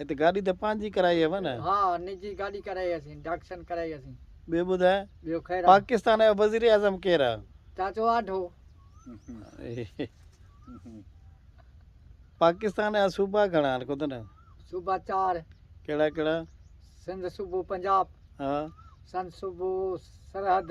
اتي گاڏي ته پنهنجي ڪرائي هئو نه؟ ها نجي گاڏي ڪرائي هئسين ڊاڪسن ڪرائي هئسين. ٻيو ٻڌاء ٻيو خير آ. پاڪستان جو وزير اعظم ڪير آ؟ چاچو آڍو. پاڪستان جا صوبا گهڻا آهن ڪوتو نه؟ صوبا چار. ڪهڙا ڪهڙا؟ سنڌ صوبو پنجاب. ها. سنڌ صوبو Sarhad.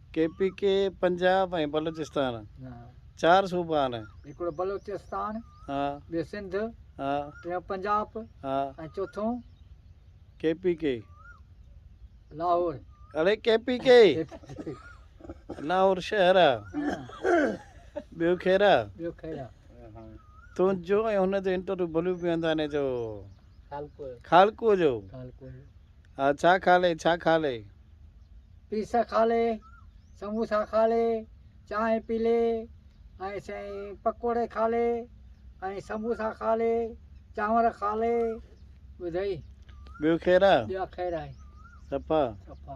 K P K Punjab ۽ Balochistan چار صوبا آھن. ھڪڙو بلوچستان، ٻيو سنڌ، ٽيون پنجاب ۽ چوٿون ڪي پي ڪي لاھور. اڙي ڪي پي ڪي لاھور شھر آ ٻيو خير آ. ٻيو خير آ. تنھنجو ۽ ھن جو انٽرويو بلو بيانداني جو خالقوء جو ها ڇا کالي ڇا کالي. پيس کالي سموسا کالي چانهه پيلي ۽ سائين پڪوڙي کالي ۽ سموسا کالي چانور کالي ٻڌئي. ٻيو خير آ. ٻيا خير آهي. صفا. صفا.